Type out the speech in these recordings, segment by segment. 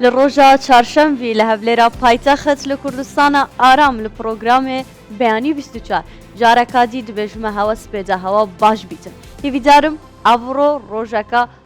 لە ڕۆژا چارشەمڤی لە هەولێرا پایتەخت لە کوردستانە ئارام لە پرۆگرامێ بەیانی 24 جارەکادی دبێژمە هەوەس پێدا هەوا باش بیتن هیویدارم ئەوڕۆ ڕۆژەکە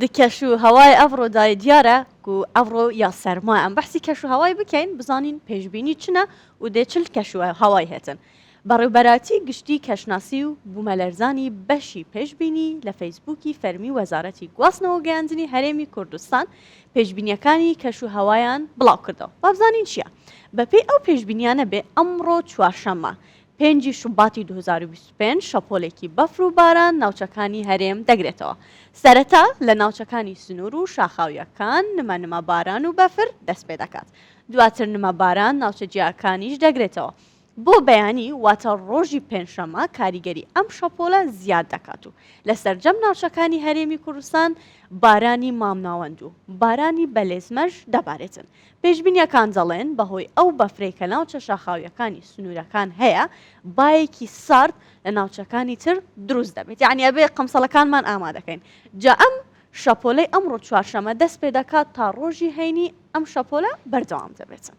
دی کەش و هەوای ئەڤڕۆ دای دیارە و ئەڤڕۆ یا سەرما ئەم بەحسی کەش و هەوای بکەین بزانین پێشببینی چنە و دێ چل کەشوە هەوای هێتن بەڕێوبەراتی گشتی کەشناسی و بوومەلەرزانی بەشی پێشببینی لە فەیسبووکی فەرمی وەزارەتی گواستنەوە گەیاندنی هەرێمی کوردستان پێشبینیەکانی کەش و هەوایان بڵاوکردەوە وابزانین چیە بەپێی ئەو پێشبینیانە بێ ئەمڕۆ چوارشەممە پێنجی شوباتی دوو هەزار و بیست و پێنج شەپۆلێکی بەفر و باران ناوچەکانی هەرێم دەگرێتەوە سەرەتا لە ناوچەکانی سنور و شاخاویەکان نمە نمە باران و بەفر دەست پێدەکات دواتر نمە باران ناوچە جیاکانیش دەگرێتەوە بۆ بەیانی واتە ڕۆژی پێنجشەممە کاریگەری ئەم شەپۆلە زیاد دەکات و لە سەرجەم ناوچەکانی هەرێمی کوردستان بارانی مامناوەند و بارانی بەلێزمەش دەبارێتن پێشبینیەکان دەڵێن بەهۆی ئەو بەفرەی کە ناوچە شاخاویەکانی سنورەکان هەیە بایەکی سارد لە ناوچەکانی تر دروست دەبێت یانی ئەبێ قەمسەڵەکانمان ئامادەکەین جا ئەم شەپۆلەی ئەمڕۆ چوارشەمە دەست پێدەکات تا ڕۆژی هەینی ئەم شەپۆلە بەردەوام دەبێتن.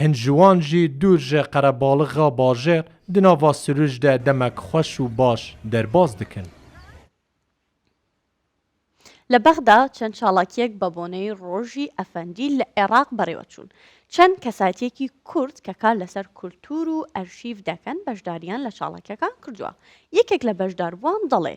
هن ژوان ژی دور ژە قەرەباڵغا باژێڕ د ناڤا سروژ دە دەمەک خوەش و باش دەرباز دکن. لە بەغدا چەند چاڵاکییەک بە بۆنەی ڕۆژی ئەفەندی لە عێڕاق بەڕێوە چوون. چەند کەسایتییەکی کورد کە کار لەسەر کولتوور و ئەرشیف دەکەن بەشدارییان لە چاڵاکییەکان کردووە. یەکێک لە بەشداربووان دەڵێ،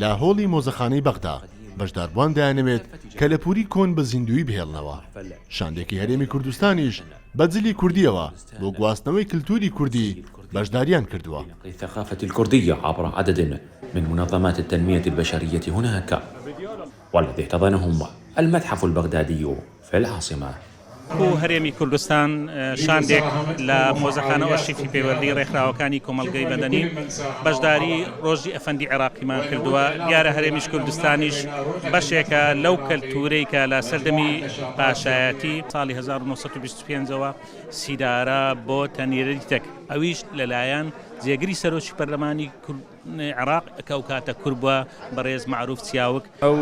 لە هۆڵی مۆزەخانەی بەغدا، بەشداربووان دەیانەوێت کەلەپووری کۆن بە زیندوویی بهێڵنەوە. شاندێکی هەرێمی کوردستانیش بە جلی کوردییەوە بۆ گواستنەوەی کلتووری کوردی بەشدارییان کردووە. فە العاسمە. کو هەرێمی کوردستان شاندێک لە مۆزەخانە ئۆرشیفی پەیوەندی رێکخراوەکانی کۆمەڵگەی مەدەنی بەشداری رۆژی ئەفەندی عێراقیمان کردوە دیارە هەرێمیش کوردستانیش بەشێکە لەو کەلتورەی کە لە سەردەمی پاشایەتی ساڵی هەزار و نۆ سەد و بیست و پێنج ەوە سیدارە بۆتە نیرەریتەک ئەویش لەلایەن جێگری سەرۆکی پەرلەمانی عێراق کە ئەو کاتە کورد بوە بەڕێز مەعروف چیاوک. ئەو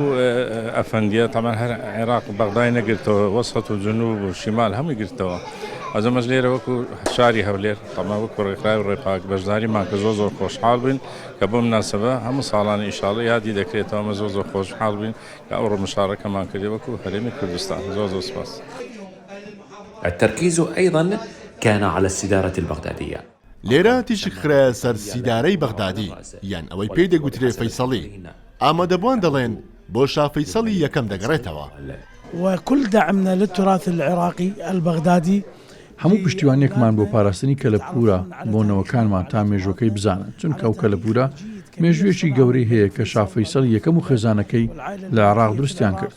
ئەفەندیە تەبعەن هەر عێراق بەغدای نەگرتەوە وەسەت و جنوب و شیمال هەمووی گرتەوە ئەز ئەمەش لێرە وەکو شاری هەولێر تەبعەن وەکو ڕێکخراوی ڕێپاک بەشداریمان کە زۆر زۆر خۆشحاڵ بووین کە بەو مناسەبە هەموو ساڵانە ئیشاڵڵا یادی دەکرێتەوە ئەمە زۆر زۆر خۆشحاڵ بووین کە ئەوڕۆ مشاڕەکەمان کردی وەکو هەرێمی کوردستان زۆر زۆر سوپاس. التركيز ايضا كان على السدارة البغدادية. لێرە تیشک خرایە سەر سیدارەی بەغدادی یان ئەوەی پێی دەگوترێ فەیسەڵی، ئامادەبوان دەڵێن بۆ شا فەیسەڵی یەکەم دەگەڕێتەوە. وکل دعمنا للتراث العراقی البغدادی. هەموو پشتیوانیەکمان بۆ پاراستنی کەلەپوورە بۆ نەوەکانمان تا مێژووەکەی بزانن، چونکە ئەو کەلەپوورە مێژوویەکی گەورەی هەیە کە شا فەیسەڵی یەکەم و خێزانەکەی لە عێراق دروستیان کرد.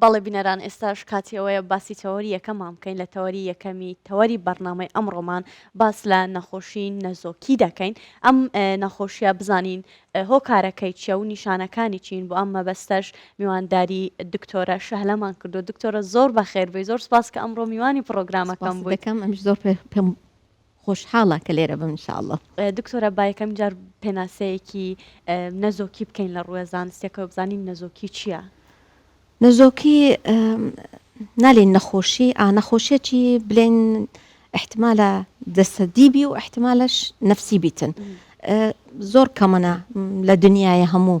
بەڵێ بینەران ئێستاش کاتی ئەوەیە باسی تەوەری یەکەمان بکەین لە تەوەری یەکەمی تەوەری بەرنامەی ئەمڕۆمان باس لە نەخۆشی نەزۆکی دەکەین ئەم نەخۆشیە بزانین هۆکارەکەی چیە و نیشانەکانی چین بۆ ئەم مەبەستەش میوانداری دکتۆرە شەهلەمان کردو دکتۆرە زۆر بەخێربێی زۆر سپاس کە ئەمڕۆ میوانی پرۆگرامەکەم بوویکەم ئەم زۆر پێم خۆشحاڵە کە لێرە بم ان شاء اللە. دکتۆرە با یەکەمین جار پێناسەیەکی نەزۆکی بکەین لە ڕووێ زانستیەکەوە بزانین نەزۆکی چیە؟ نەزۆکی نالین نەخۆشی ئا نەخۆشیەکی بلێن احتمالە جەسەدی بی و احتمالەش نەفسی بیتن زۆر کەمەە لە دنیاە هەموو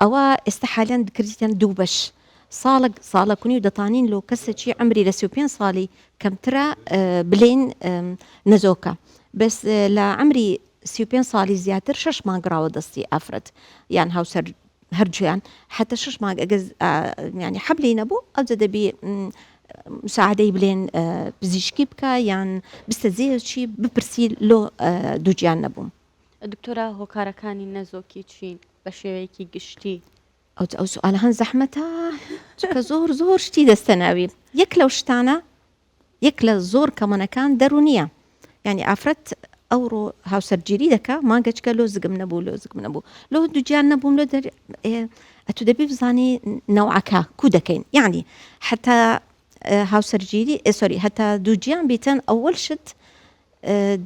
ئەوە ئێستا حالەن کردیتیان دوو بەش ساڵەک ساڵەک و نیو دەتانین لۆ کەسەکی عەمری لە سی و پێنج ساڵی کەمترە بلێین نەزۆکە بەس لە عەمری سی و پێنج ساڵی زیاتر شەش مانگ ڕاوە دەستی ئافرەت یان هاوسەر هەرجویان حتە شش مانگ ئەگەز ینی حەبلی نەبوو ئەوجە دەبی مساعدەی بلێن پزیشکی بکە یان بستە زێرچی بپرسی لۆ دووجیان نەبووم دکتۆرا هۆکارەکانی نەزۆکی چین بە شێوەیەکی گشتی. ئەوت ئەو سوالە هەن زەحمەتە چونکە زۆر زۆر شتی دەستە ناوی یەک لەو شتانە یەک لە زۆر کەمەنەکان دەرونیە یعنی ئافرەت ئەوڕۆ هاوسەرگیری دەکا ماگەچکە لۆ زگم نەبوو لۆ زگم نەبوو لۆ دوجیان نەبووم لۆ دەر ئەتو دەبی بزانی نەوعەکە کو دەکەین یعنی حتا هاوسەرگیری ئێسۆری هەتا دووجیان بیتن ئەوەل شت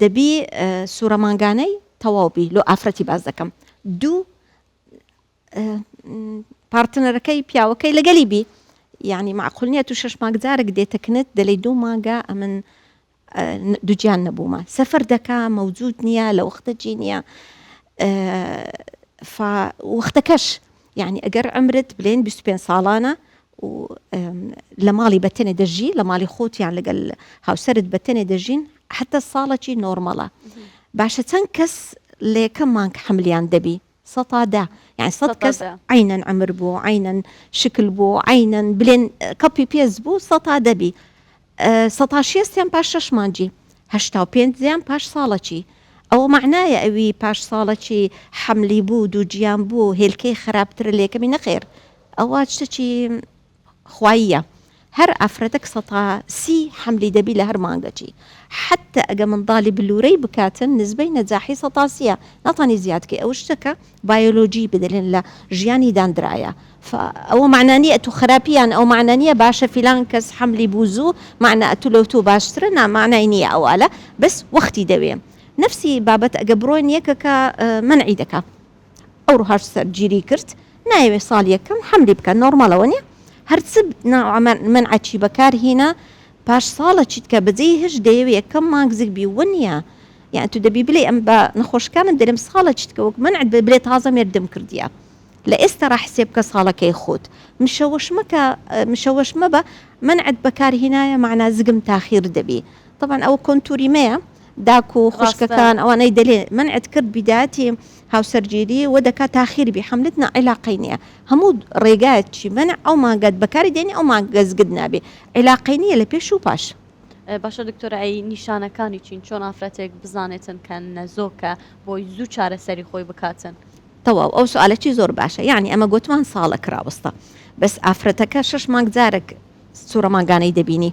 دەبی سورە مانگانەی تەواو بی لۆ ئافرەتی باس دەکەم دوو پارتنەرەکەی پیاوەکەی لەگەلی بی یعنی معقول نیە تو شش مانگ جارێک دێتەکنت دەلی دوو مانگە ئەمن دوجیان نەبوومە سەفەر دەکا مەوجود نییە لە وەختە جی نییە وەختەکەش یعنی ئەگەر ئەمرت بلێن 25 ساڵانە و لە ماڵی بەتەنێ دەژی لە ماڵی خۆت یان لەگەل هاوسرت بەتەنێ دەژین حتا ساڵەکی نۆرمەڵە باشە چەند کەس لە یەکەم مانگ حملیان دەبی سەتادا یان سە کەس عینەن ئەمر بوو عینەن شکل بوو عینەن بلێن کەپی پێز بوو سەتا دەبی سەتاشیە سێم پاش شەش مانجی. هەشتاو پێنج زیان پاش ساڵەکی. ئەوە مەعنایە ئەوی پاش ساڵەکی حەملی بوو دووگیان بوو هێلکەی خەراپترە لەیەکەمی نەخێر ئەوە شتەکی خواییە هەر ئافرەتەک سەتا سی حەملی دەبی لە هەر مانگەکی حەتە ئەگە منداڵی بلورەی بکاتن نزبەی نەجاحی سەتا سیە ناتانی زیاد کەی ئەوە شتەکە بایۆلۆجی بدلن لە ژیانی داندرایە فە ئەوە مەعنا نیە ئەتوو خەراپی یان ئەو مەعنا نیە باشە فیلان کەس حەملی بوو زوو مەعنا ئەتوو لە توو باشترە نا مەعنای نیە ئەوالە بەس وەختی دەوێ نەفسی بابەت ئەگە بڕۆین یەکەکە مەنعی دەکا ئەوڕۆ هەر سەرگیری کرد نایەوێ ساڵ یەکەم حەملی بکا نۆڕماڵە وەنیە هەر چ نا مەنعەچی بەکار هینا پاش ساڵە چیت کە بەجێی هەشت دەیەوێ یەکەم مانگ زگ بی وە نیە یان تو دەبی بلێی ئەم بە نەخۆشەکانت دەرێم ساڵە چیت کە وەک مەنعت بێ بلێ تازە مێردم کردیە لە ئێستەڕا حسێب کە ساڵەکەی خۆت مشەوەش مەکە مشەوەش مەبە مەنعت بەکار هینایە مەعنا زگم تاخیر دەبی تەبعەن ئەوە کۆنتوری مەیە داکو ڕاستە. خوشکەکان ئەوانەی دەلێ مەنعت کرد بیداتی. هاوسەرگیری و دەکا تاخیر بی حەملت نا عیلاقەی نیە هەموو ڕێگایەک چی مەنع ئەو مانگەت بەکاری دێنی ئەو مانگە زگت نابێ عیلاقەی نیە لە پێش و پاش. باشە دکتۆر ئەی نیشانەکانی چین چۆن ئافرەتێک بزانێتن کە نەزۆکە بۆی زوو چارەسەری خۆی بکاتن. تەواو ئەو سوالەچی زۆر باشە یانی ئەمە گۆتمان ساڵەک ڕاوەستە بەس ئافرەتەکە شەش مانگ جارەک سورە مانگانەی دەبینی.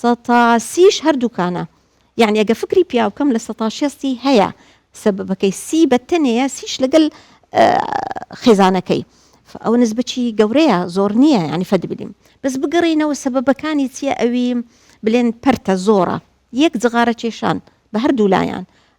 سەتا سیش هەردووکانە یانی ئەگە فکری پیاو بکەم لە سەتا شێستی هەیە سەبەبەکەی سی بە تەنێیە سیش لەگەل خێزانەکەی ئەوە نزبەچی گەورەیە زۆر نییە ینی فەد بدیم بەس بگەڕینەوە سەبەبەکانی چییە ئەوی بلێن پەرتە زۆرە یەک جغارە کێشان بە هەردوو لایەن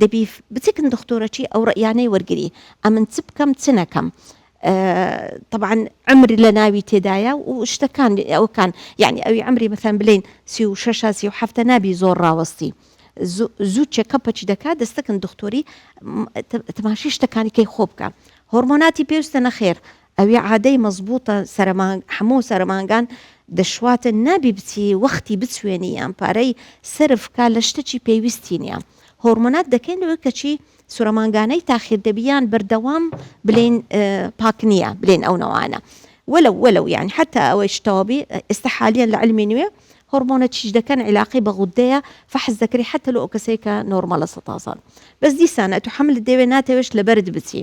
دەبی بتکن دختورەچی ئەو ڕەئیانەی وەرگری ئەمن چ بکەم چ نەکەم طبعا عمر لە ناوی تێدایە و شتەکان ئەوکان یعنی ئەوی عمری مەسەن بلین سی و شش سی و هەفتە نابی زۆر ڕاوەستی زوو چێکەپەچی دەکات دەستەکن دختوری تماشی شتەکانی کەی خۆ بکە هۆرمۆناتی پێویستە نەخێر ئەوی عادەی مەزبووتە سەرەمانگ حەموو سەرەمانگان دەشواتن نابی بچی وەختی بچوێنی یان پارەی سەرف کا لە شتەکی پێویستی نیە هۆرمۆنات دەکەین لەوەی کەچی سورەمانگانەی تاخیر دەبی یان بەردەوام بلین پاک نیە بلین ئەو نەوانە ولو ولو یان حتا ئەوەی شتەوەبی ئێستا حالیان لە علمی نوێ هۆرمۆنە چیش دەکەن عیلاقی بە غودەیە فەحز دەکری حتا لە ئەو کەسەی کە نۆرمەلە سەتازان بەس دیسانە تو حەمل دەوێ ناتەوێش لەبەرد بچی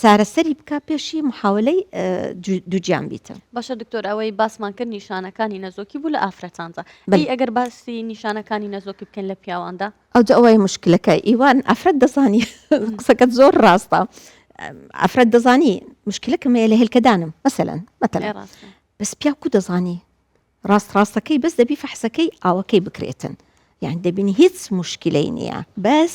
چارەسەری بکە پێشی محاولەی دووگیان بیتن. باشە دکتۆر ئەوەی باسمان کرد نیشانەکانی نەزۆکی بوو لە ئافرەتاندا بەی ئەگەر باسی نیشانەکانی نەزۆکی بکەن لە پیاواندا ئەوجا ئەوەی مشکلەکە ئیوان ئەفرەت دەزانی قسەکەت زۆر ڕاستە ئەفرەت دەزانی مشکلەکەم لە هێلکەدانم مەسەلەن مەتەلێ بەس پیاکو دەزانی ڕاست ڕاستەکەی بەس دەبی فەحسەکەی ئاوەکەی بکرێتن یان دەبینی هیچ مشکلەی نییە بەس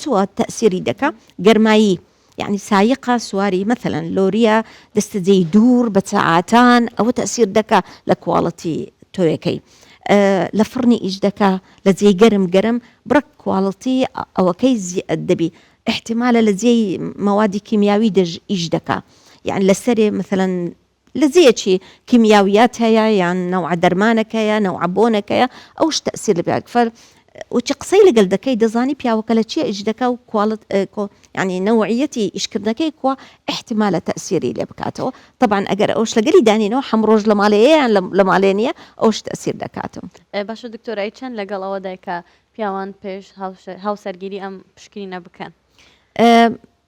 چ وا تەئسیری دەکا گەرمایی یەعنی سایقە سواری مەثلا لۆریە دەستە جێی دوور بە چەعاتان ئەوە تەئسیر دەکا لە کواڵتی تۆیەکەی لە فڕنی ئیش دەکا لە جێی گەرم گەرم بڕک کواڵتی ئەوەکەی زیئەت دەبی احتیمالە لە جێی مەوادی کیمیاوی دەژ ئیش دەکا یەعنی لەسەرێ مەثلا لە جێیە چی کیمیاویات هەیە یان نەوعە دەرمانەکەیە نەوعە بۆنەکەیە ئەوش تەئسیر لە پیاوەک فەر و چی قسەی لەگەل دەکەی دەزانی پیاوەکە لە چیە ئیش دەکا و کواڵت ینی نەوعیەتی ئیشکردنەکەی کوا احتمالە تەسیری لێ بکاتەوە طبعا ئەگەر ئەوش لەگەلی دانینەوە حەم ڕۆژ لە مالەیەیان لە مالێ نیە ئەوش تەسیر دەکاتم باشە دکتۆرای چەند لەگەڵ ئەوە دایکە پیاوان پێش هاوسەرگیری ئەم پشکنینە بکەن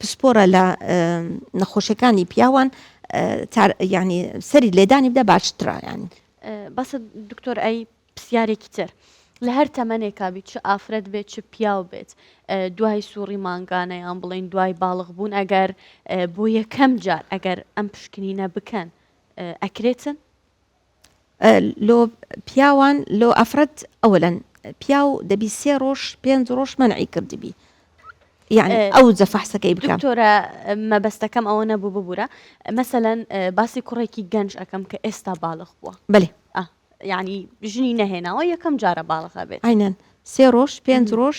پسپۆرە لە نەخۆشیەکانی پیاوان ینی سەری لێدانی بدە باشترایان بەسە دکتۆر ئەی پرسیارێکی تر لە هەر تەمەنێکا بیت چ ئافرەت بێت چ پیاو بێت دوای سوڕی مانگانە یان بڵین دوای باڵغ بوون ئەگەر بۆ یەکەم جار ئەگەر ئەم پشکنینە بکەن ئەکرێتن لۆ پیاوان لۆ ئەفرەت ئەولەن پیاو دەبی سێ ڕۆژ پێنج ڕۆژ منعی کردبی یعنی ئەو جە فەحسەکەی بکەم دکتۆرە مەبەستەکەم ئەوە نەبوو ببوورە مەسەەن باسی کوڕێکی گەنج ئەەکەم کە ئێستا باڵخ بووە بەێ یعنی ژنی نەهێناوە یەکەم جارە باڵخە بێت ئاینەن سێ ڕۆژ پێنج ڕۆژ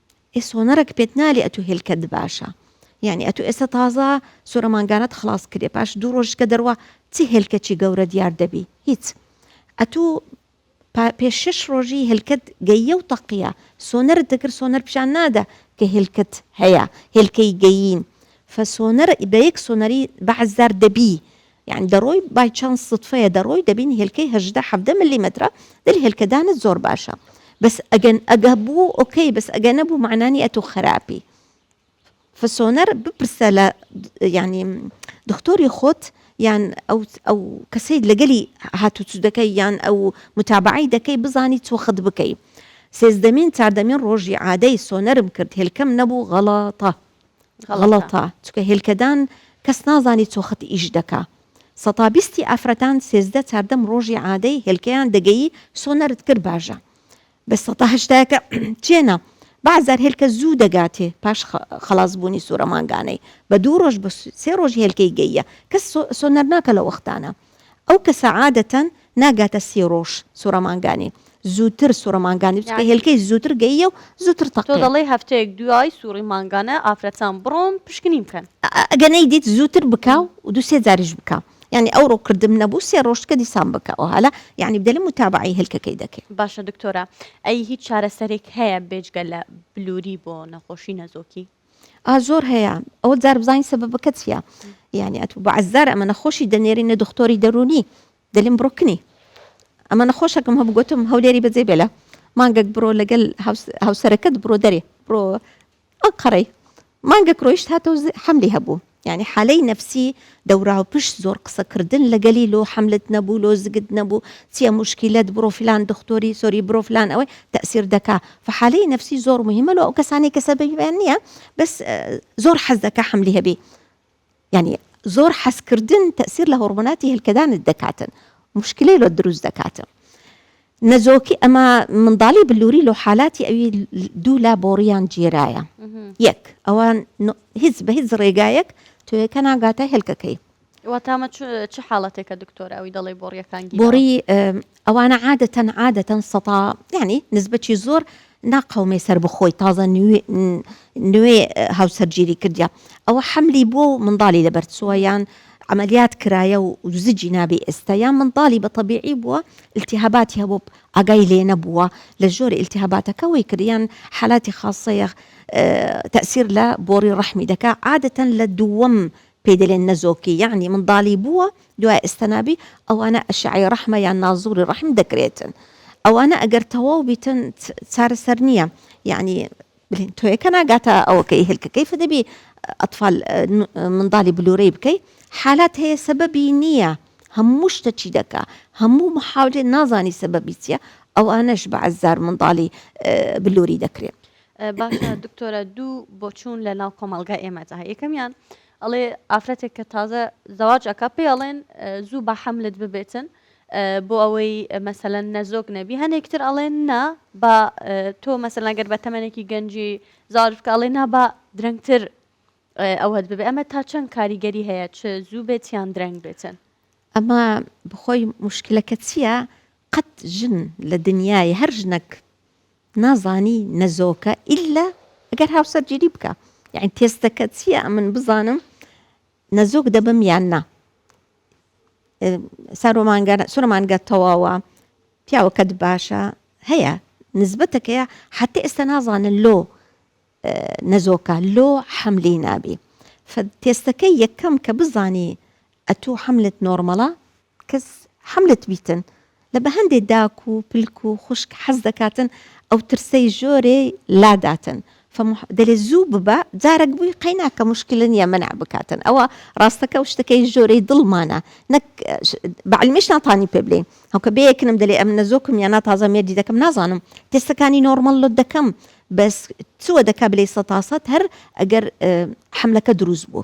ئێ سۆنەرەک پێت نالێ ئەتو هێلکەت باشە یعنی ئەتو ئێستا تازە سورە مانگانەت خلاص کرێ پاش دوو ڕۆژ کە دەروا چ هێلکەچی گەورە دیار دەبی هیچ ئەتو پێ شش ڕۆژی هێلکەت گەیە و تەقیە سۆنەرت دەکرد سۆنەر پیشان نادە کە هێلکەت هەیە هێلکەی گەیین فسۆنەر بە یەک سۆنەری بەعزدار دەبی یانی دەڕۆی بای چانس سوتفەیە دەڕۆی دەبینی هێلکەی هەژدە حەڤدە ملیمەترە دەری هێلکەدانت زۆر باشە بەس ئەگەن ئەگە بوو ئۆکەی بەس ئەگە نەبوو معنانی ئەتۆ خراپی فسۆنەر بپرسە لە ینی دکتۆری خۆت یان ئەو ئەو کەسەی لەگەلی هاتوچو دەکەی یان ئەو متابعی دەکەی بزانی چۆخت بکەی سێزدەمین چاردەمین ڕۆژی عادەی سۆنەرم کرد هێلکەم نەبوو غەڵاتە غەڵەتە چونکە هێلکەدان کەس نازانی چۆ خەت ئیش دەکا سەتا بیستی ئافرەتان سێزدە چاردەم ڕۆژی عادەی هێلکەیان دەگەیی سۆ نەرت کرد باژە بە سەتا هەشتایەکە چێنە بەعزار هێلکە زوو دەگاتێ پاش خلاص بوونی سوورە مانگانەی بە دوو ڕۆژ بە سێ ڕۆژ هێلکەی گەیە کەس سۆنەر ناکە لە وەختانە ئەو کەسە عادەتەن ناگاتە سی ڕۆژ سوڕە مانگانی زووتر سوڕە مانگانی بچکە یعنی هێلکەی زووتر گەییە و زووتر تۆ تەقێ دەڵێی هەفتەیەک دوای سوڕی مانگانە ئافرەتان بڕۆن پشکنین بکەن. ئەگە نەیدیت زووتر بکە و دوو سێ جاریش بکە یانی ئەوڕۆ کردم نەبوو سێ ڕۆژ کە دیسان بکە ئۆهالە یانی بدەلە موتابەعەی هێلکەکەی دەکەی. باشە دکتۆرە ئەی هیچ چارەسەرێک هەیە بێجگە لە بلوری بۆ نەخۆشی نەزۆکی؟ ئا زۆر هەیە ئەوە جار بزانین سەبەبەکە چییە یعنی ئەتو بە عزار ئەمە نەخۆشی دەنێری نە دختۆری دەرونی دەلیم بڕکنی ئەمە نەخۆشەکەم هەبوو گوتم هەولێری بەجێ بێلە مانگەک بڕۆ لەگەل هاوسەرەکەت بڕۆ دەرێ بڕۆ ئەنقەڕەی مانگەک ڕۆیشت هاتە حملی هەبوو یانی حالەی نەفسی دەوراوپشت زۆر قسە کردن لەگەلی لۆ حەملت نەبوو لۆ زگت نەبوو چیە موشکیلەت بڕۆ فلان دختۆری سۆری برۆ فلان ئەوەی تەئسیر دەکا فحالەی نەفسی زۆر موهیمە لۆ ئەو کەسانەی کە سەبەبیان نیە بەس زۆر حەز دەکا حەملی هەبی یانی زۆر حەز کردن تەئسیر لە هۆڕمۆناتی هێلکەدانت دەکاتن موشکلەی لۆت دروست دەکاتن نەزۆکی ئەمە منداڵی بلووری لۆ حالاتی ئەوی دوو لا بۆڕیان جێرایە یەک ئەوان هیچ بە هیچ ڕێگایەک توێەکە ناگاتە هێلکەکەی واتامە چ حاڵەتێکە دکتۆر ئەوی دەڵی بۆڕیەکان بۆڕی ئەوانە عادەتەن عادەتەن سەتا ینی نزبەتی زۆر نا قەومێ سەربەخۆی تازە نوێ هاوسەرگیری کردیە ئەوە حەملی بوە و منداڵی لەبەر چوە یان عەمەلیات کرایە و زجی نابێ ئێستا یان منداڵی بە تەبیعی بوە التهاباتی هەبوە ئاگای لێ نەبوە لە ژۆری التهاباتەکە وەی کرد یان حالاتی خاسەیە تەئسیر لە بۆڕی ڕەحمی دەکا عادەتەن لە دووەم پێی دەلێن نەزۆکی یەعنی مندالی بووە دوای ئەستەنابی ئەوانە ئەشعەی ڕەحمە یان نازوری ڕەحم دەکرێتن ئەوانە ئەگەر تەواو بیتن چارەسەر نییە یەعنی بلین تۆیەکە ناگاتە ئەوەکەی هلکە کەیف دەبی ئەتفال مندالی بلورەی بکەی حالات هەیە سەبەبی نییە هەموو شتە چی دەکا هەموو محاولێ نازانی سەبەبی چییە ئەوانەش بە عەزار مندالی بلوری دەکرێت باشە دکتۆرە دوو بۆچوون لە ناو کۆمەڵگای ئێمەدا هەیە یەکەمیان ئەڵێ ئافرەتێک کە تازە زەواج ئەکا پێی ئەڵێن زوو بە حەملت ببێتن بۆ ئەوەی مەسەلەن نەزۆک نەبی هەنێکتر ئەڵێن نا بە تۆ مەسەلەن گەر بە تەمەێکی گەنجی زارف کە ئەڵێ نا بە درەنگتر ئەوەت ببێ ئەمە تا چەند کاریگەری هەیە چ زوو بێت یان درەنگ بێتن ئەمە بخۆی مشکلەکە چییە قەت ژن لە دنیای هەر ژنەک نازانی نە زۆکە ئیلا ئەگەر هاوسەرگیری بکە یعنی تێستەکە چییە ئەمن بزانم نەزۆک دەبم یان نا سارۆمانگە سورمانگە تەواوە پیاوەکەت باشە هەیە نسبەتەکەیە حتى ئێستا نازانن لۆ نەزۆکە لۆ حملی نابی تێستەکە یەکەم کە بزانی ئەتوو حملت نۆرمەڵە کەس حەملت بیتن لە بە هەندێ داک و پلک و خوشک حەز دەکاتن ئەو ترسەی ژۆرێ لا داتن فە مح دەلێ زوو ببە جارەک بوی قەی ناکە مشکلە نیە مەنع بکاتن ئەوە راستەکە و شتەکەی ژۆرەی دڵمانە نەک بە علمیش ناتانی پێ بلێی هەوکە بێ یەکنم دەلێ ئەم نەزۆکم یا نا تازە مێردی دەکەم نازانم تێستەکانی نۆرمەل لۆت دەکەم بەس چوە دەکا بلێی سەتاسەت هەر ئەگەر حەملەکە دروست بوو.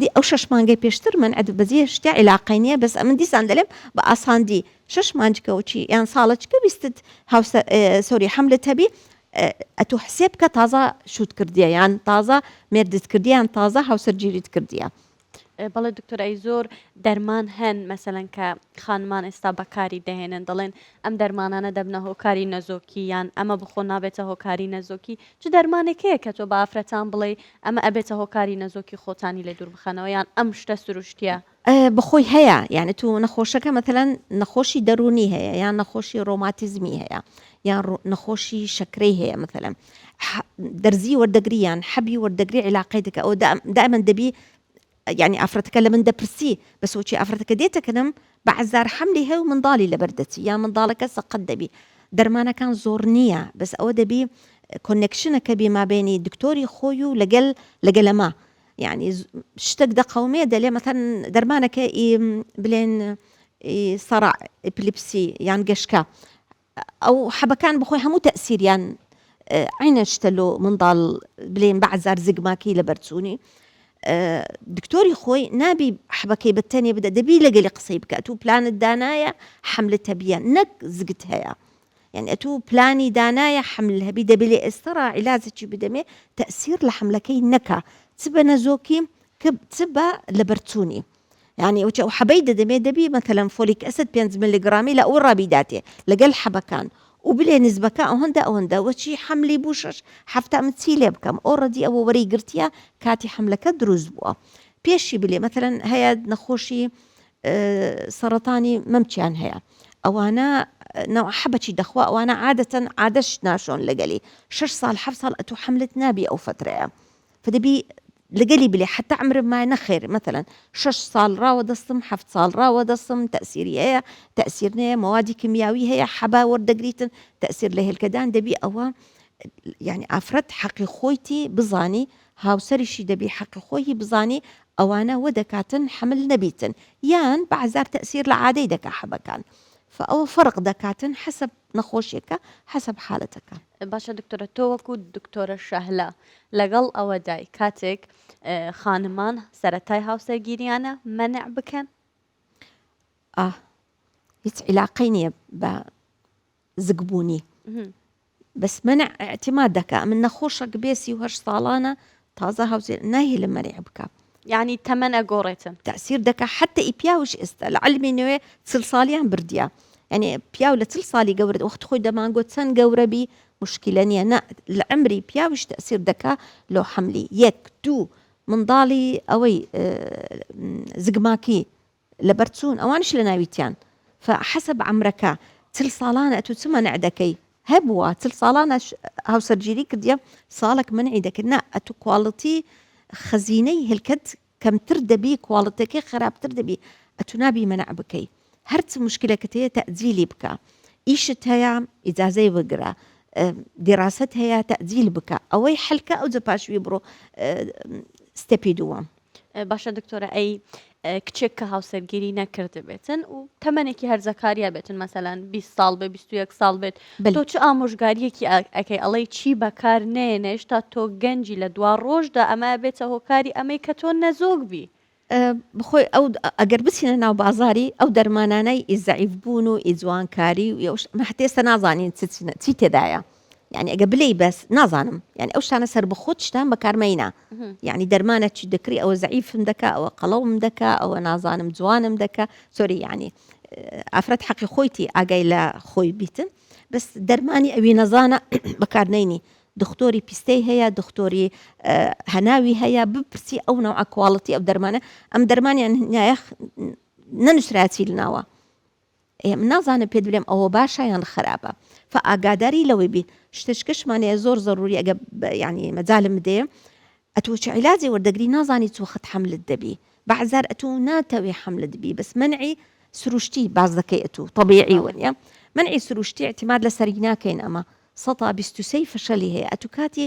دی ئەو شەش مانگەی پێشتر من عەدو بەزیە شتێ عیلاقەی نیە بەس ئەمن دیسان دەلێم بە ئاساندی شەش مانج کەو چی یان ساڵە چ پێویستت هاوسە سۆری حەملت هەبی ئەتو حسێ بکە تازە شوت کردیە یان تازە مێردت کردیە یان تازە هاوسەر گیریت کردیە بەڵێ دکتۆر ئەی زۆر دەرمان هەن مەسەن کە خانمان ئێستا بەکاری دەهێنن دەڵێن ئەم دەرمانانە دەبنە هۆکاری نەزۆکی یان ئەمە بخۆ نابێتە هۆکاری نەزۆکی چ دەرمانێکەیە کە تۆ بافرەتان بڵێ ئەمە ئەبێتە هۆکاری نەزۆکی خۆتانی لێ دووربخەنەوە یان ئەم شتە سروشتیە. بەخۆی هەیە یانی تو نەخۆشەکە مەتەلەن نەخۆشی دەرونی هەیە یان نەخۆشی رۆماتیزمی هەیە یان نەخۆشی شەکرەی هەیە مەتەلەن دەرزی وەردەگری یان حەبی وەردەگری عیلاقەی دەکە ئەوە دائمەن دەبی یانی ئافرەتەکە لە من دەپرسی، بەس وەچی ئافرەتەکە دێتە کنم، بە عەزار حەملی هەیە و منداڵی لەبەر دەچی، یان منداڵەکە سەقەت دەبی. دەرمانەکان زۆڕ نییە، بەس ئەوە دەبی کۆنێکشنەکە بی مابەینی دکتۆری خۆی و لەگەل لەگەلەما. یانی شتەک دەقەومێ دەلێ مەسەن دەرمانەکە ئی بلێن ئی سەرع، ئیپلیپسی، یان گەشکە، ئەو حەبەکان بەخۆی هەموو تەئسیریان عینە شتە لۆ منداڵ بلێن بەعزار زگماکەی لەبەر چوونی دکتۆری خۆی نابی حەبەکەی بە تەنێ بدە دەبی لەگەلی قسەی بکات و پلانت دانایە حملە تەبیە نەک زگت هەیە یعنی ئەتو پلانی دانایە حمل هەبی دەبێ لێ ئێستەڕا عیلازێکی بدەمێ تەسیر لە حملەکەی نەکا چ بە نەزۆکی چ بە لەبەرچوونی یانی ئەوچ ئەو حەبەی دەدەمێ دەبی مەتەلەن فۆلیک ئەسد پێنج مللیگڕامی لە ئەوڕا بیداتێ لەگەل حەبەکان و بلێ نسبەکە ئەوەندە ئەوەندە وە چی حەملی بوو شەش حەفتا من چی لێ بکەم ئەو ڕەدی ئەوە وەرەی گرتیە کاتی حەملەکە دروست بووە پێشی بلێ مەتەلەن هەیە نەخۆشی سەڕەتانی مەمچیان هەیە ئەوانە نەوە حەبەچی دەخوا ئەوانە عادەتەن عادەش ناشۆن لەگەلی شش سال حەف سال ئەتو حەملت نابی ئەو فترەیە فدەبی لەگەلی بلێ حتا عمرم مایە نەخێر مەثلا شەش ساڵ ڕاوە دەستم حەفت ساڵ ڕاوە دەستم تەسیری هەیە تەسیر نەیە مەوادی کمیاوی هەیە حەبا وەردەگریتن تەسیر لە هێلکەدان دەبی ئەوە یعنی ئافرەت حەقی خۆیتی بزانی هاوسەریشی دەبی حەقی خۆی بزانی ئەوانە وە دەکاتن حمل نەبیتن یان بەعزار تەسیر لە عادەی دەکا حەبەکان فئەوە فەرق دەکاتن حەسب نەخۆشیەکە حەسب حالەتەکان باشە دکتۆرە تۆ وەکو دکتۆرە شەهلا لەگەڵ ئەوەدای کاتێک خانمان سەرەتای هاوسەرگیریانە مەنع بکەن ئاه هیچ عیلاقەی نییە بە زگبوونی بەس منە ئەعتیماد دەکە من نەخۆشە گبێسی و هەر ساڵانە تازە هاوسێر ناهێلە مەرێع بکا. یعنی تەمەن ئەگۆڕێتن. تەئسیر دەکا حەتە ئی پیاوش ئێستا لە عەلمی نوێ چل ساڵیان بردیە. یعنی پیاو لە چل ساڵی گەورە وەخت خۆی دەمانگۆ چەن گەورە بی مشکلە نیە نە لە عەمری پیاوش تەئسیر دەکا لۆ حەملی یەک دوو منداڵی ئەوەی زگماکی لەبەر چوون ئەوانیش لەناویتیان فە حەسەب عەمرەکە چل ساڵانە ئەتوو چ مەنع دەکەی هەبووە چل ساڵانە هاوسەرگیری کردیە ساڵێک مەنعی دەکرد نا ئەتوو کواڵتی خەزینەی هێلکەت کەمتر دەبی کواڵتەکەی خراپتر دەبی ئەتوو نابی مەنع بکەی هەرچ مشکلەکەت هەیە تەجیلی بکە ئیشت هەیە ئیجازەی بگرە دیڕاست هەیە تەجیل بکە ئەوەی حەلکە ئەوجە پاشوی بڕۆ ستەپی دووەم باشە دکتۆرە ئەی کچێک کە هاوسەرگیری نەکردبێتن و تەمەێکی هەرزەکاریا بێتن مەسەلاەن 20 ساڵ بە 21 ساڵ بێت تۆ چ ئامۆژگاریەکی ئەەکەی ئەڵەی چی بەکار نێنێش تا تۆ گەنجی لە دوا ڕۆژدا ئەمە بێتە هۆکاری ئەمەی کە تۆ نەزۆک بی بخۆی ئەو ئەگەر بچینە ناو بازاری ئەو دەرمانانای ئیزعیف بوون و ئیجوانکاری و یوش مەحتێستا نازانین چی تێدایە یعنی ئەگە بلێی بەس نازانم یعنی ئەو شتانە سەر بخۆت شتان بەکارمەینا یعنی دەرمانە چی دەکری ئەوە زعیفم دەکا ئەوە قەڵەوم دەکا ئەوە نازانم جوانم دەکە سۆری یعنی ئافرەت حەقی خۆیتی ئاگای لە خۆی بیتن بەس دەرمانی ئەوی نەزانە بەکارنینی دکتۆری پیستەی هەیە دکتۆری هەناوی هەیە بپرسی ئەو ناوعکواڵەتی ئەو دەرمانە ئەم دەرمانیان نایەخ نەنووسراتی لەناوە ئێ نازانم پێت بلێم ئەوە باشە یان خەراپە فە ئاگاداری لەوەی بین شتشکشمان هەیە زۆر زەروری ئەگە یعنی مەجالم بدێ ئەتوو چ عیلاجی وەردەگری نازانی چوو خەت حملت دەبی بەعزار ئەتوو ناتەوێ حملت بی بەس منعی سروشتی باز دەکەی ئەتوو طبیعی وەنیە منعی سروشتی اعتماد لەسەری ناکەین ئەمە سەتا بیست و سەی فشەلی هەیە ئەتوو کاتی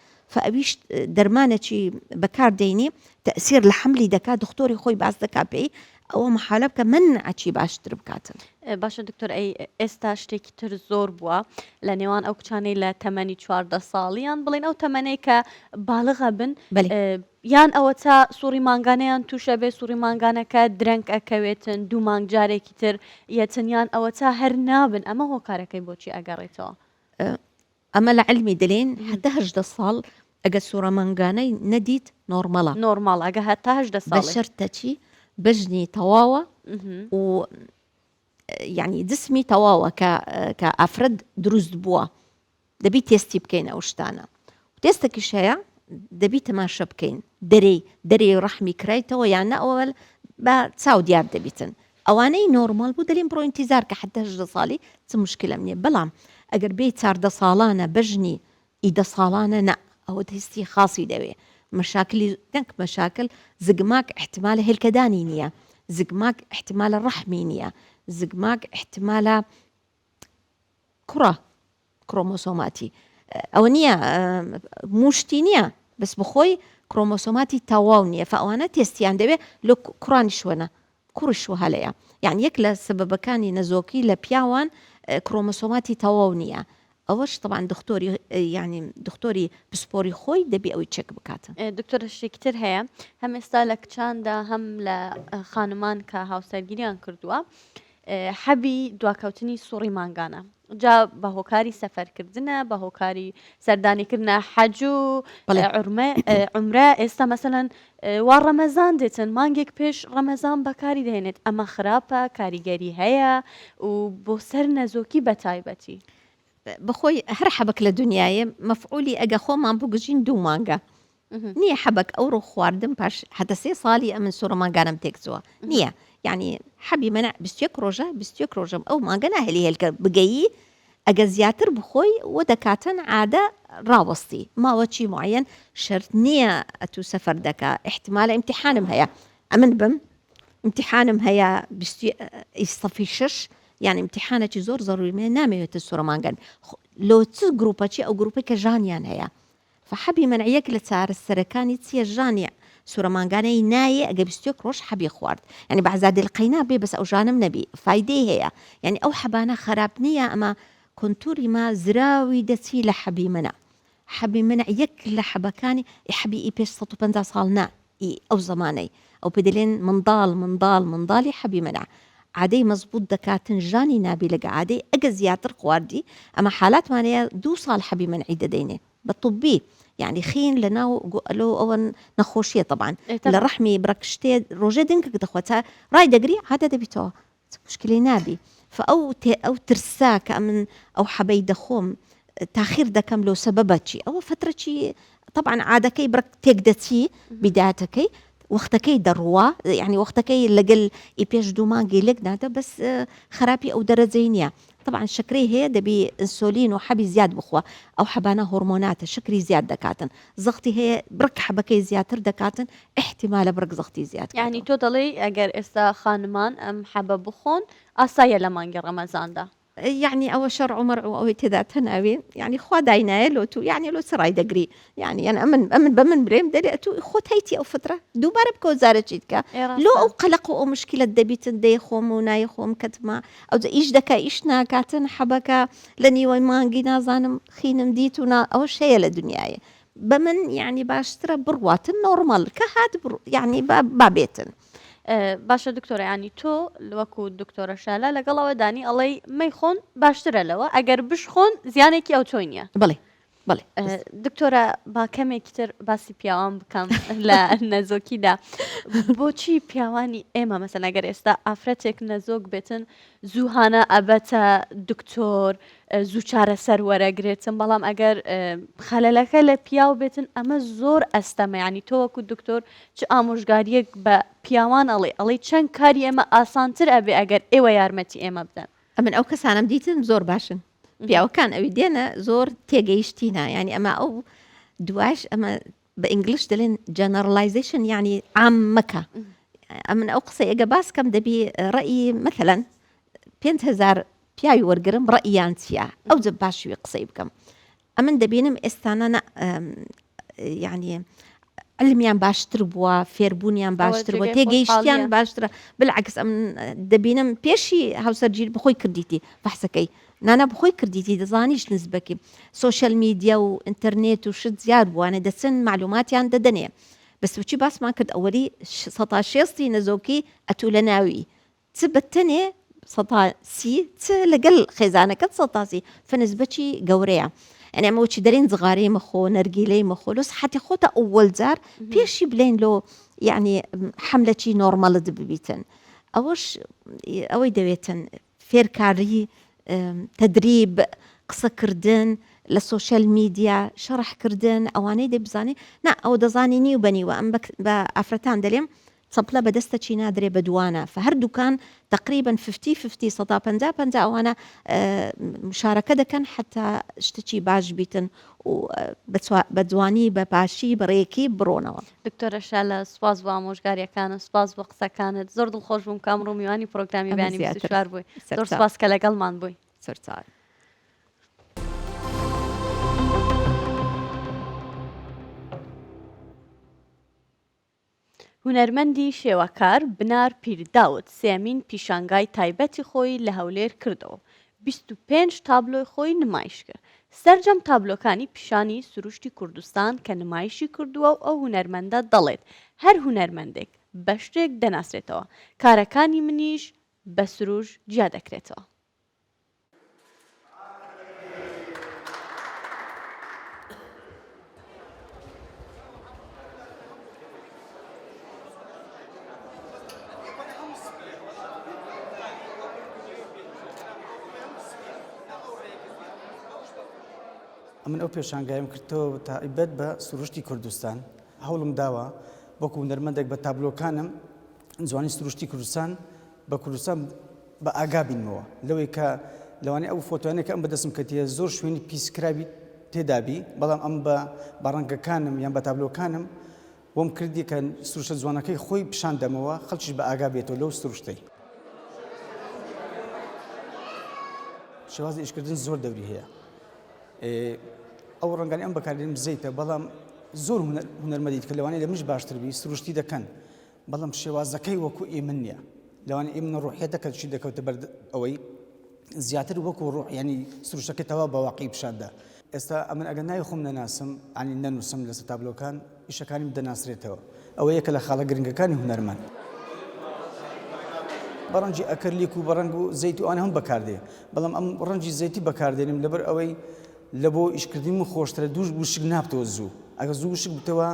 فاویش دەرمانەچی بەکار دەینی تەسیر لە حملی دەکات دختۆری خۆی باس دەکا پێی ئەوە محالە بکە من ئەچی باشتر بکاتن باشە دکتۆر ئەی ئێستا شتێکی تر زۆر بووە لە نێوان ئەو کچانەی لە تەمەنی چواردە ساڵیان بڵێن ئەو تەمەەی کە باڵغە بن یان ئەوە تا سوڕی مانگانەیان تووشە بێ سوڕی مانگانەکە درەنگ ئەکەوێتن دوو مانگ جارێکی تر یەتنیان ئەوە تا هەر نابن ئەمە هۆکارەکەی بۆچی ئەگەڕێتەوە ئەمە لە عیلمی دەلین هەتا هەژدە ساڵ ئەگە سورە مانگانە نەدیت نۆرمەڵە. نۆرماڵ ئەگە هەتا هەژدە ساڵێ. بەشەرتە چی بەژنی تەواوە و یانی جسمی تەواوە کە کە ئافرەت دروست بووە دەبی تێستی بکەین ئەو شتانە تێستەکیش هەیە دەبی تەماشە بکەین دەرێی دەرێ ڕەحمی کرایتەوە یان نە ئەوەل بە چاو دیار دەبیتن ئەوانەی نۆرمال بوو دەلین بڕۆ ئینتیزار کە حەددە هەژدە سالی چ موشکیلەم نیە بەلام ئەگەر بێی چاردە سالانە بەژنی ی دە سالانە نا ئەوە تێستی خاسی دەوێ مەشاکلی نەک مەشاکل زگماک ئیحتمالە هێلکەدانی نیە زگماک ئیحتمالە رەحمی نیە زگماک ئیحتمالە کوڕە کرۆمۆسۆماتی ئەوە نییە موشتی نییە بەس بخۆی کرۆمۆسۆماتی تەواو نییە فەوانە تێستیان دەوێ لە کوڕانی شوەنە کوڕی شوها لەیە یعنی یەک لە سببەکانی نەزۆکی لە پیاوان کرۆمۆسۆماتی تەواو نییە ئەوەش طبعاان دکتۆری یعنی دکتۆری پسپۆری خۆی دەبی ئەوی چێک بکاتن دکتۆر شتێکتر هەیە هەم ئێستا لە کچاندا هەم لە خانمان کە هاوسەرگیریان کردووە حەبی دواکەوتنی سوڕی مانگانە جا بە هۆکاری سەفەرکردنە بە هۆکاری سەردانیکردە حەج و عمرە ئێستا مەسەەن وا ڕەمەزان دێتن مانگێک پێش ڕەمەزان بەکاری دێنێت ئەمە خراپە کاریگەری هەیە و بۆ سەر نەزۆکی بە تایبەتی بەخۆی هەر حەبک لە دنیاە مەفعولی ئەگە خۆمان بگوژین دوو مانگە نیە حەبەک ئەوڕۆ خواردم پاش هەتە سێ ساڵی ئەمن سوڕە ماگانم تێکچووە نییە یعنی حەبی منە بستێک ڕۆژە بستێک ڕۆژم ئەو ماگە ناهێلی هێلکە بگەیی ئەگە زیاتر بخۆی و دەکاتن عادە ڕاوەستی ماوەچی معەن شرت نییە ئەتو سەفەر دەکە احتمالە امتحانم هەیە ئەمن بم امتحانم هەیە ئیسەفی شش یان امتحانەکی زۆر زەڕوی من نامەوێتە سوورەمانگەن لۆ چ گروپەچی ئەو گروپی کە ژانیان هەیە فحەبی مەنع یەک لە چارەسەرەکانی چیە ژانی سورە مانگانە ی نایێ ئەگەر بیست و یەک ڕۆژ حەبی خوارد یانی بەعزادی القینا بێ بەس ئەوژانەم نەبی فایدەی هەیە یانی ئەو حەبانە خەراپ نیە ئەمە کونتوری ما زراوی دەچی لە حەبی مەنع حەبی مەنع یەک لە حەبەکانی ی حەبی ی پێش سەد و پەنجا ساڵ نا. ی ئەو زەمانەی ئەو پێ دەلێن مندال مندال مندالی حەبی منع عادەی مەزبوت دەکاتن ژانی نابی لەگە عادەی ئەگە زیاتر خواردی ئەمە حالاتمان هەیە دوو سال حەبی منعی دەدەینێ بە طبی یانی خین لە ناو گو ئەلۆ ئەوەن نەخۆشیە تەبان لە رەحمی برەکشتێ رۆژێ دنکک دەخوە تا رای دەگری عادە دەبیتەوە هیچ مشکلەی نابی فئەو تێ ئەو ترسە کە ئەمن ئەو حەبەی دەخۆم تاخیر دەکەم لۆ سەبەبە چی ئەوە فترە چی طبعا عادەکەی بڕ تێک دەچی بیداتەکەی وەختەکەی دەڕوە یعنی وەختەکەی لەگەل ئی پێش دوو مانگی لێک نادە بەس خراپی ئەو دەرەجەی نییە تەبعەن شەکرەی هەیە دەبی ئنسۆلین و حەبی زیاد بخوا ئەو حەبانە هۆڕمۆناتە شەکری زیاد دەکاتن زەختی هەیە بڕک حەبەکەی زیاتر دەکاتن ئیحتیمالە بڕک زەختی زیاد یانی کاتەوە. تۆ دەڵێی ئەگەر ئێستا خانمان ئەم حەبە بخۆن ئاسایە لە مانگی ڕەمەزاندا. یانی ئەوە شەرع و مەرع و ئەوەی تێدا تەناوی یانی خوا داینایە لۆ تو یانی لۆ چ ڕای دەگری یانی یان ئەمن ئەمن بە من برێم دەێ ئەتو خۆت هەیتی ئەو فترە دووبارە بکەوە زارە چیت کە لۆ ئەو قەلق و ئەو مشکلت دەبیتن دێ خۆم و نای خۆم کەتما ئەو ئیش دەکە ئیش ناکاتن حەبەکە لە نیوەی مانگی نازانم خینم دیت و نا ئەوە شەیە لە دنیاە بە من یعنی باشترە بڕواتن نۆرمال کە هات یعنی بابێتن. باشە دکتۆرەیانی تۆ وەکو دکتۆرە شالا لەگەڵەوە دانی ئەڵەی مەیخۆن باشترە لەوە ئەگەر بشخۆن زیانێکی ئەو تۆی نیە بڵێ دکتۆرە با کەمێکی تر باسی پیاوان بکەم لە نەزۆکیدا بۆچی پیاوانی ئێمە مەسە نەگەر ئێستا ئافرەتێک نەزۆک بێتن زووهانە ئەبەتە دکتۆر زوو چارە سەر وەرەگرێتن بەڵام ئەگەر خەلەلەکە لە پیاو بێتن ئەمە زۆر ئەستەمەیانی تۆوەکو دکتۆر چ ئامۆژگاریەک بە پیاوان ئەڵێ ئەڵی چەند کاری ئێمە ئاسانتر ئەبێ ئەگەر ئێوە یارمەتی ئێمە بدەن ئەمن ئەو کەسانم دیتن زۆر باشن پیاوەکان ئەوی دێنە زۆر تێگەیشتینە یعنی ئەمە ئەو دواش ئەمە بە ئینگلیش دەلێن جەنەرلایزیشن یعنی عام مەکە ئەمن ئەو قسە ئێگە باس کەم دەبی ڕئی مەتەلەن پێهزار پیاوی وەرگرم ڕئیان چیە ئەو جە باشوی قسەی بکەم ئەمن دەبینم ئێستانە نا یانی علمیان باشتر بووە فێربوونیان باشتر بووە تێگەیشتیان باشترە بلعکس ئەم دەبینم پێشی هاوسەرگیر بخۆی کردیتی بەحسەکەی نانا بخۆی کردیتی دەزانیش نزبەکی سوۆشل میدیا و ئینتەرنێت و شت زیاد بووانە دەچن معلوماتیان دەدەنێ بەسوچی باسمان کرد ئەوەری سەتا شێستی نەزۆکی ئەتوو لە ناوی چ بە تەنێ سەتا سی چ لەگەل خێزانەکەت سەتا سی فنسبەچی گەورەیە یعنی ئەمە وەچی دەرین زغارەی مەخۆ نەرگیلەی مەخۆ لۆ سحەتی خۆتە ئەوەل جار پێشی بلێن لۆ یعنی حملەچی نۆرمەلت ببیتن ئەوەش ئەوەی دەوێتن فێرکاری تدریب قسەکردن لە سوۆشل میدیا شەڕحکردن ئەوانەی دەبزانێ نا ئەو دەزانی نیو بەنیوە ئەم بە ئافرەتان دەلێم چەپلە بە دەستە چی نادرێ بە دوانە فە هەر دوکان تەقریبەن ففتی ففتی سەدا پەنجا پەنجا ئەوانە مشارەکە دەکەن حتا شتچی باش بیتن و بە جوانی بە باشی بەڕێکی بڕۆنەوە. دکتۆرە شالە سوپاس بۆ ئامۆژگاریەکانت سوپاس بۆ قسەکانت زۆر دڵخۆش بووم کام ڕوومیوانی پرۆگرامی بەیانی بیست و چوار بووی زۆر سوپاس کە لەگەڵمان بووی سەرچاوی هونەرمەندی شێوەکار بنار پیرداود سێیەمین پیشانگای تایبەتی خۆی لە هەولێر کردەوەو بیست و پێنج تابلۆی خۆی نمایشکرد، سەرجەم تابلۆکانی پیشانی سروشتی کوردستان کە نمایشی کردووەو ئەو هونەرمەندە دەڵێت هەر هونەرمەندێک بەشتێک دەناسرێتەوە، کارەکانی منیش بە سروش جیادەکرێتەوە. من ئەو پێشانگایم کردەوە تایبەت بە سروشتی کوردستان هەوڵم داوە وەکو نەرمەندێک بە تابلۆکانم جوانی سروشتی کوردستان بە کوردستان بە ئاگا بینمەوە لەوەی کە لەوانەیە ئەو فۆتۆیانە کە ئەم بەدەستم کەتیە زۆر شوێنی پیسکراوی تێدابی بەڵام ئەم بە بە ڕەنگەکانم یان بە تابلۆکانم وەم کردی کە سروشتە جوانەکەی خۆی پیشان دەمەوە خەڵکیش بە ئاگا بێتەوە لەو سروشتەی شێوازی ئیشکردن زۆر دەوری هەیە ئەو ڕەنگانی ئەم بەکارێن بزەیتە بەڵام زۆر هونەرمەدیت کە لەوانەیە لە منش باشتر بی سروشتی دەکەن بەڵام شێوازەکەی وەکو ئیمن نیە لەوان ئیمن ڕوحەتە کە چی دەکەوتە بەر ئەوەی زیاتر وەکو ڕوح ینی سروشەکە تەوا بەواقعی پیشاندا ئێستا ئەمن ئەگە نای خۆم نەناسم ئەنی نەنووسم لەسە تابلۆکان ئیشەکانیم دەناسرێتەوە ئەوە یەکە لە خاڵە گرنگەکانی هونەرمان بەڕەنجی ئەکەرلیک و بەڕەنگ و زەیت و ئەوان هەم بەکاردێ بەڵام ئەم ڕەنجی زەیتی بەکاردێنم لەبەر ئەوەی لە بۆ ئیشکردنی من خۆشترە دووش وشک نابتەوە زوو ئەگە زوو وشک بتەوە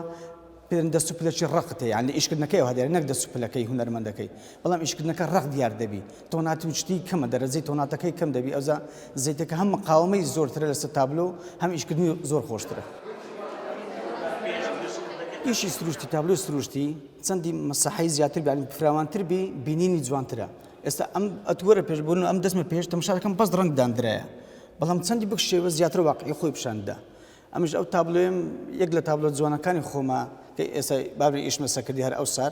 پێرن دەست و پلەکی ڕەقت هەیە یان لە ئیشکردنەکەیەوە هەدێرێ نەک دەست و پلەکەی هونەرمەندەکەی بەڵام ئیشکردنەکە ڕەق دیار دەبی تۆناتی و شتی کەمە دەرەجەی تۆناتەکەی کەم دەبی ئەوزا زەیتەکە هەم مقاومەی زۆرترە لەسەر تابلۆ هەم ئیشکردنی زۆر خۆشترە ئیشی سروشتی تابلۆ سروشتی چەندی مەسەحی زیاتر بیان فراوانتر بی بینینی جوانترە ئێستا ئەم ئەتوەرە پێش بوون ئەم دەستمە پێش تەمشارەکەم بەس ڕنگداندرایە بەڵام چەندی بکشێوە زیاتر واقعی خۆی پیشاندا ئەمش ئەو تابلۆیەم یەک لە تابلۆ جوانەکانی خۆمە کە ئێستا بابی ئیشمە سەکردی هەر ئەو سار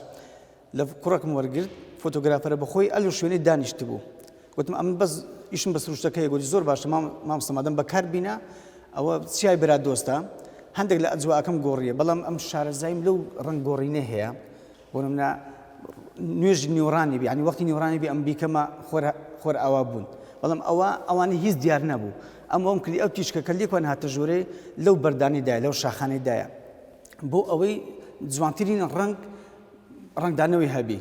لە کوڕەکم وەرگرت فۆتۆگرافەرە بەخۆی ئەل و شوێنەی دانیشت بوو وتم ئەمن بەس ئیشم بە سروشتەکەی گوتی زۆر باشە مام مامستەمادەم بەکار بینە ئەوە چیای برا دۆستە هەندێک لە ئەجواکەم گۆڕیە بەڵام ئەم شارەزایم لەو ڕنگ گۆڕینە هەیە بۆ نمونە نوێژی نیوەڕانی بێ یعنی وەختی نیوەڕانی بێ ئەم بیکەمە خۆر ئاوا بوون بەڵام ئەوە ئەوانی هیچ دیار نەبوو ئەم ئەوم کلی ئەو تیشکە کە لێکوان هاتە ژوورێ لەو بەردانیدایە لەو شاخانەیدایە بۆ ئەوەی جوانترین ڕنگ ڕنگدانەوەی هەبی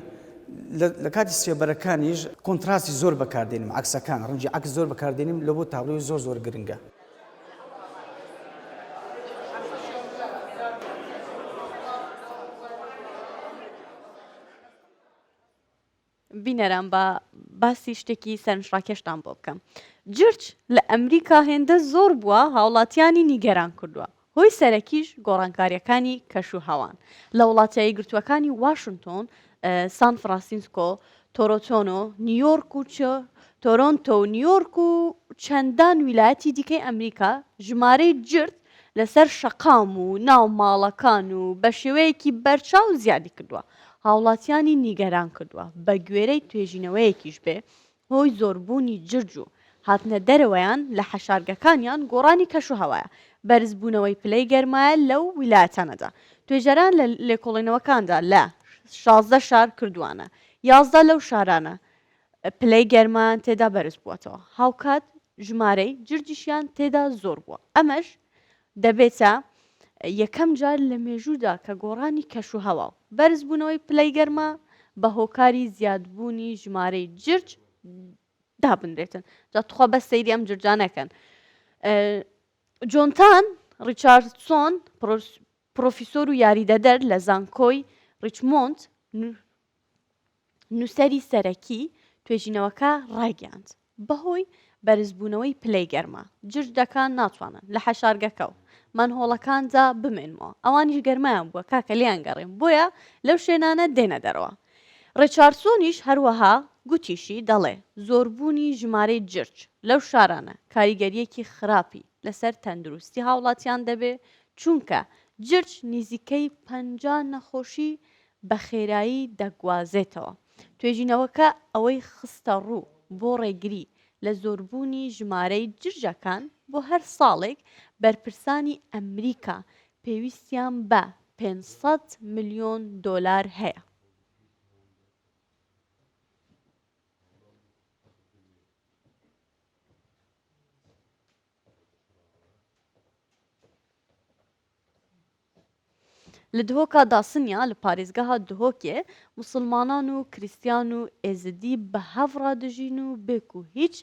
لە کاتی سێبەرەکانیش کۆنتراسی زۆر بەکاردێنم عکسەکان ڕنجی عکس زۆر بەکاردێنم لە بۆ تابلۆی زۆر زۆر گرنگە بینەران با باسی شتێکی سەرنجڕاکێشتان بۆ بکەم جرج لە ئەمریکا هێندە زۆر بووە هاوڵاتیانی نیگەران کردووە هۆی سەرەکیش گۆڕانکارییەکانی کەشوهەوان لە وڵاتە یەکگرتووەکانی واشنتۆن، سان فراسینسکۆ، تۆرۆتۆنۆ، نیویۆرک و چ تۆرۆنتۆ و نیویۆرک و چەندان ویلایەتی دیکەی ئەمریکا ژمارەی جرت لەسەر شەقام و ناو ماڵەکان و بە شێوەیەکی بەرچاو زیادی کردووە هاوڵاتیانی نیگەران کردووە بە گوێرەی توێژینەوەیەکیش بێ هۆی زۆربوونی جرج و هاتنە دەرەوەیان لە حەشارگەکانیان گۆڕانی کەشوهەوایە، بەرزبوونەوەی پلەی گەرمایە لەو ویلایەتانەدا. توێژەران لە لێکۆڵینەوەکاندا لە شازدە شار کردووانە، یازدە لەو شارانە پلەی گەرمایان تێدا بەرزبووەتەوە، هاوکات ژمارەی جرجیشیان تێدا زۆربووە، ئەمەش دەبێتە یەکەم جار لە مێژوودا کە گۆڕانی کەشوهەوا و بەرزبوونەوەی پلەی گەرما بە هۆکاری زیادبوونی ژمارەی جرج دابنرێتن جا توخوا بەس سەیری ئەم جرجا نەکەن جۆنتان ڕیچاردسۆن پرۆفیسۆر و یاریدەدەر لە زانکۆی ڕیچمۆند نووسەری سەرەکی توێژینەوەکە ڕایگەیاند، بەهۆی بەرزبوونەوەی پلەی گەرما، جرجەکان ناتوانن لە حەشارگەکە و مەنهۆڵەکاندا بمێنمەوە، ئەوانیش گەرمایان بووە کاکە لێیان گەڕێم، بۆیە لەو شوێنانە دێنە دەرەوە. ڕێچارسۆنیش هەروەها گوتیشی، دەڵێ زۆربوونی ژمارەی جرج لەو شارانە کاریگەرییەکی خراپی لەسەر تەندروستی هاوڵاتیان دەبێ، چونکە جرج نیزیکەی پەنجا نەخۆشی بە خێرایی دەگوازێتەوە. توێژینەوەکە ئەوەی خستەڕوو، بۆ ڕێگری لە زۆربوونی ژمارەی جرجەکان بۆ هەر ساڵێک، بەرپرسانی ئەمریکا پێویستیان بە پێنج سەد ملیۆن دۆلار هەیە. لە دهۆکا داسنیا لە پارێزگەها دهۆکێ موسڵمانان و کریستیان و ئێزدی بە هەڤ ڕا دژین و بێ کوو هیچ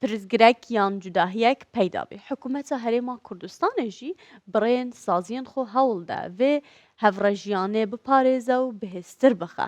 پرسگرەک یان جوداهیەک پەیدا بی. حکوومەتا هەرێما کوردستانێ ژی بڕێن سازیێن خۆ هەوڵ دا ڤێ هەڤڕەژیانێ بپارێزە و بهێزتر بخە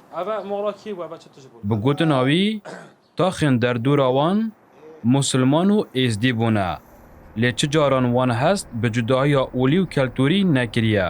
بگوتن ئاوی تاخێن دەر دوورا وان موسلمان و ئێزدی بوونە لێ چ جاران وان هەست بە جوداهیا ئولی و کەلتوری نەکریە.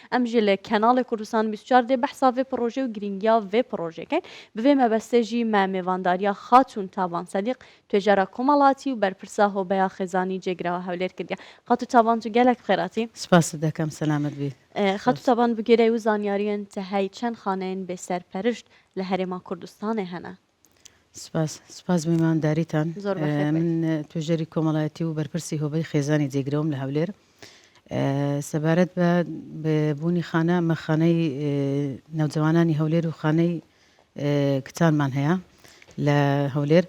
ئەمژێ لە کەناڵێ کوردستان بیست و چوار دێ بەحسا ڤێ پڕۆژێ و گرینگیا ڤێ پڕۆژێ کەین، بڤێ مەبەستێ ژی مە مێڤانداریا خاتوون تابان سەدیق، توێژەرا کۆمەڵاتی و بەرپرسا هۆبەیا خێزانی جێگراوە هەولێر کردیە. خاتوو تابان تو گەلەک بخێراتی. سپاست دەکەم سەلامەت بیت. خاتوو سپاس. تابان بگێرای و زانیاریێن تە هەی چەن خانەێن بێ سەرپەرشت لە هەرێما کوردستانێ هەنە؟ سپاس سپاس بۆ میوانداریتان. زۆر بە خێر بێن. من توێژەری کۆمەڵایەتی و بەرپرسی هۆبەی خێزانی جێگرەوەم لە هەولێر. سەبارەت بە بوونی خانە، ئەمە خانەی نەوجەوانانی هەولێر و خانەی کچانمان هەیە لە هەولێر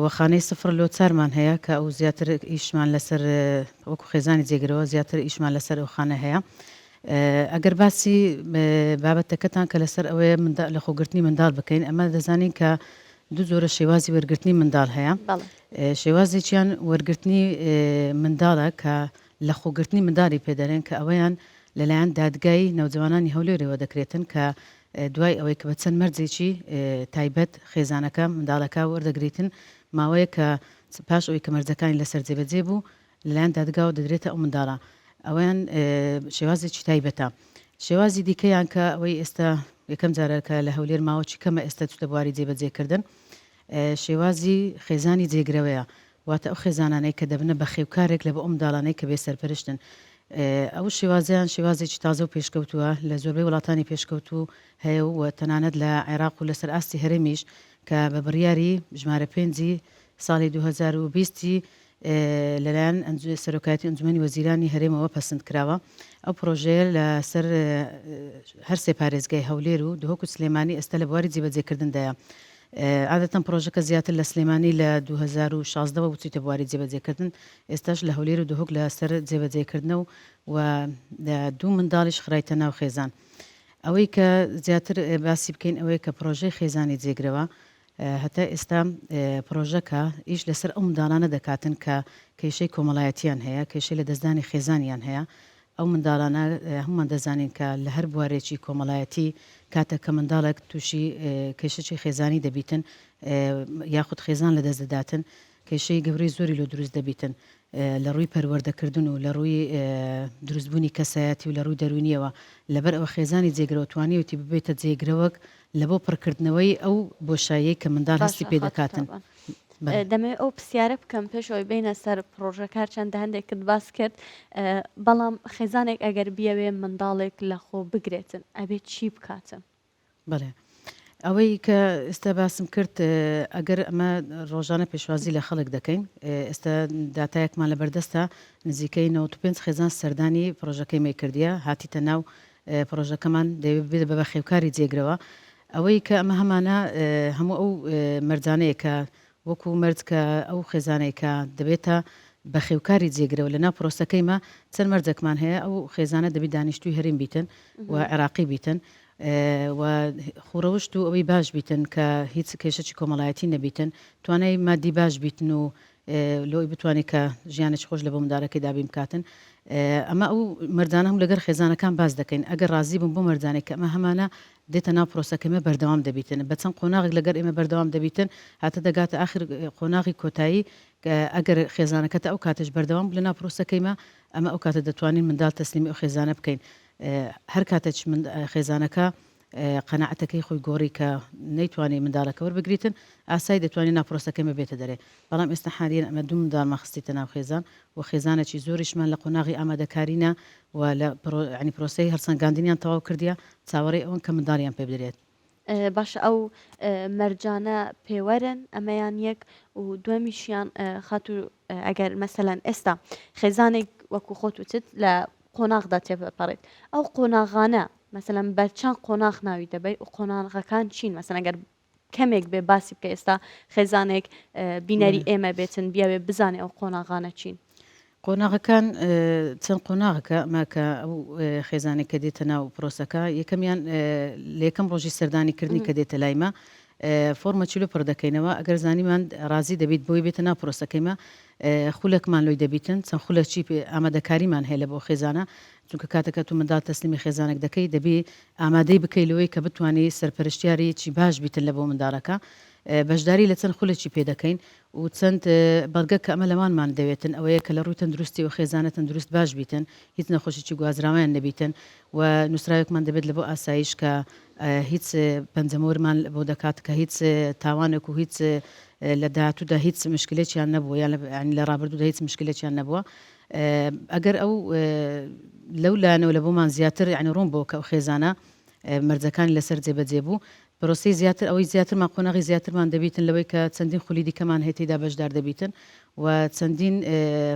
و خانەی سفر لۆ چارمان هەیە کە ئەو زیاتر ئیشمان لەسەر وەکو خێزانی جێگرەوە زیاتر ئیشمان لەسەر ئەو خانە هەیە. ئەگەر باسی بابەتەکەتان کە لەسەر ئەوەیە منداڵ لەخۆگرتنی منداڵ بکەین ئەمە دەزانین کە دوو جۆرە شێوازی وەرگرتنی منداڵ هەیە بەڵێ ئێ، شێوازێکیان وەرگرتنی ئێ، منداڵە کە لەخۆگرتنی منداڵی پێدەرێن کە ئەوەیان لەلایەن دادگای نەوجەوانانی هەولێرەوە دەکرێتن کە ئێ، دوای ئەوەی کە بە چەند مەرجێکی ئێ، تایبەت خێزانەکە منداڵەکە وەردەگریتن ماوەیەک کە پاش ئەوەی کە مەرجەکانی لەسەر جێبەجێ بوو لەلایەن دادگاوە دەدرێتە ئەو منداڵە ئەوەیان شێوازێکی تایبەتە شێوازی دیکەیان کە ئەوەی ئێستا یەکەم جارە کە لە هەولێر ماوەکی کەمە ئێستا چتە بواری جێبەجێکردن شێوازی خێزانی جێگرەوەیە واتە ئەو خێزانانەی کە دەبنە بە خێوکارێک لە بە ئەم داڵانەی کە بێ سەرپەرشتن ئەو شێوازیان شێوازێکی تازە و پێشکەوتووە لە زۆربەی وڵاتانی پێشکەوتوو هەیە و تەنانەت لە عێراق و لەسەر ئاستی هەرێمیش کە بە بڕیاری ژمارە پێنجی ساڵی 2020 لەلایەن سەرۆکایەتی ئەنجومەنی وەزیرانی هەرێمەوە پەسند کراوە. ئەو پڕۆژەیە لە سەر هەر سێ پارێزگای هەولێر و دهۆک و سلێمانی ئێستا لە بواری جێبەجێکردندایە. عادەتەن پڕۆژەکە زیاتر لە سلێمانی لە دوو هەزار و شازدە وە چوویتە بواری جێبەجێکردن، ئێستاش لە هەولێر و دهۆک لە سەر جێبەجێکردنە و و دوو منداڵیش خرایتە ناو خێزان. ئەوەی کە زیاتر باسی بکەین ئەوەیە کە پڕۆژەی خێزانی جێگرەوە هەتا ئێستا پرۆژەکە ئیش لەسەر ئەو منداڵانە دەکاتن کە کێشەی کۆمەڵایەتییان هەیە، کێشەی لەدەستدانی خێزانیان هەیە، ئەو منداڵانە هەموومان دەزانین کە لە هەر بوارێکی کۆمەڵایەتی کاتێک کە منداڵێک تووشی کێشەی خێزانی دەبیتن یاخود خێزان لەدەست دەداتن، کێشەی گەورەی زۆری لۆ دروست دەبیتن لە ڕووی پەروەردەکردن و لە ڕووی دروست بوونی کەسایەتی و لە ڕووی دەروونیەوە لەبەر ئەوە خێزانی جێگرەوە توانیوتی ببێتە جێگرەوەک لە بۆ پڕکردنەوەی ئەو بۆشاییەی کە منداڵ هەستی پێ دەکاتن. دەمەوێت ئەو پرسیارە بکەم پێش ئەوی بینە سەر پرۆژەکار چەندە هەندێکت باس کرد بەڵام خێزانێک ئەگەر بیاوێ منداڵێک لە خۆ بگرێتن ئەبێت چی بکاتن؟ بەڵێ ئەوەی کە ئێستا باسم کرد ئەگەر ئەمە ڕۆژانە پێشوازی لە خەڵک دەکەین ئێستا داتایەکمان لە بەردەستە نزیکەی 95 خێزان سەردانی پرۆژەکەی مەی کردیە هاتیتە ناو پرۆژەکەمان دەوێت بێت بە بەخێوکاری جێگرەوە ئەوەی کە ئەمە هەمانە هەموو ئەو مەرجانەیە کە وەکو مەرج کە ئەو خێزانەی کە دەبێتە بەخێوکاری جێگرەوە لە ناو پرۆسەکەی مە چەند مەرجەکمان هەیە ئەو خێزانە دەبی دانیشتوی هەریم بیتن و عێراقی بیتن و خوڕەوشت و ئەوی باش بیتن کە هیچ کێشەی کۆمەڵایەتی نەبیتن توانای مادی باش بیتن و لۆی بتوانێت کە ژیانێک خۆش لە بۆ مندارەکەی دابیم بکاتن ئەمە ئەو مردانە هەم لەگەر خێزانەکان باز دەکەین ئەگەر ڕازی بوون بۆ مردانێک کە ئەمە هەمانە دێتە ناو پرۆسە کەمێ بەردەوام دەبیتن بە چەند قۆناغێک لەگەر ئێمە بەردەوام دەبیتن هەتە دەگاتە ئاخر قۆناغی کۆتایی کە ئەگەر خێزانەکە تا ئەو کاتەش بەردەوام بوو لە ناو پرۆسەکەیما ئەمە ئەو کاتە دەتوانین مندال تەسلیمی ئەو خێزانە بکەین هەر کاتەچ مند خێزانەکە قەناعەتەکەی خۆی گۆڕی کە نەیتوانی مندالەکە وەربگریتن ئاسای دەتوانین ناو پرۆسەکەمێ بێتە دەرێ بەڵام ئێستا حالیەن ئەمە دوو مندالمان خستیتە ناو خێزان و خێزانەکی زۆریشمان لە قۆناغی ئامادەکارینە و لە پرۆسەی هەڵسەنگاندنیان تەواو کردیە، چاوەڕێی ئەوەن کە منداڵیان پێ بدرێت. باشە ئەو مەرجانە پێوەرن؟ ئەمەیان یەک و دوەمیشیان خاتو ئەگەر مەسەلەن ئێستا خێزانێک وەکو خۆت وتت لە قۆناغدا تێپەپەڕێت ئەو قۆناغانە مەسەلەن بەرچەند قۆناغ ناوی دەبەیت و قۆناغەکان چین مەسەلەن گەر کەمێک بێ باسی بکە ئێستا خێزانێک بینەری ئێمە بێتن بیاوێ بزانێ ئەو قۆناغانە چین قۆناغەکان چەند قۆناغەکە ماکە ئەو خێزانێک کە دێتە ناو پرۆسەکە یەکەمیان لە یەکەم ڕۆژی سەردانی کردنی کە دێتە لایمە فۆرمە چلو پڕ دەکەینەوە ئەگەر زانیمان ڕازی دەبیت بۆی بێتە ناو پرۆسەکەیمە خولەکمان لۆی دەبیتن چەند خولەچی ئامادەکاریمان هەیە لە بۆ خێزانە چونکە کاتێک کە تۆ منداڵ تەسلیمی خێزانێک دەکەی دەبێ ئامادەی بکەی لەوەی کە بتوانی سەرپەرشتیارێیەکی باش بیت لە بۆ منداڵەکە بەشداری لە چەند خولێکی پێ دەکەین و چەند بەڵگە کە ئەمە لەوانمان دەوێتن ئەوەیە کە لە ڕووی تەندروستی و خێزانە تەندروست باش بیتن هیچ نەخۆشیی گوازراویان نەبیتن و نووسراوێکمان دەبێت لە بۆ ئاسایش کە هیچ پەنجەمۆرمان بۆ دەکات کە هیچ تاوانێک و هیچ لە داهاتوودا هیچ مشکلێکیان نەبووە یان لە ڕابردوودا هیچ مشکلێکیان نەبووە ئەگەر ئەو لەو لایەنەوە لە بۆمان زیاتر یانی ڕوون بۆ کە ئەو خێزانە مەرجەکانی لەسەر جێبەجێ بوو پرۆسی زیاتر ئەوەی زیاترمان قۆناغی زیاترمان دەبیتن لەوەی کە چەندین خولی دیکەمان هەیە تێیدا بەشدار دەبیتن و چەندین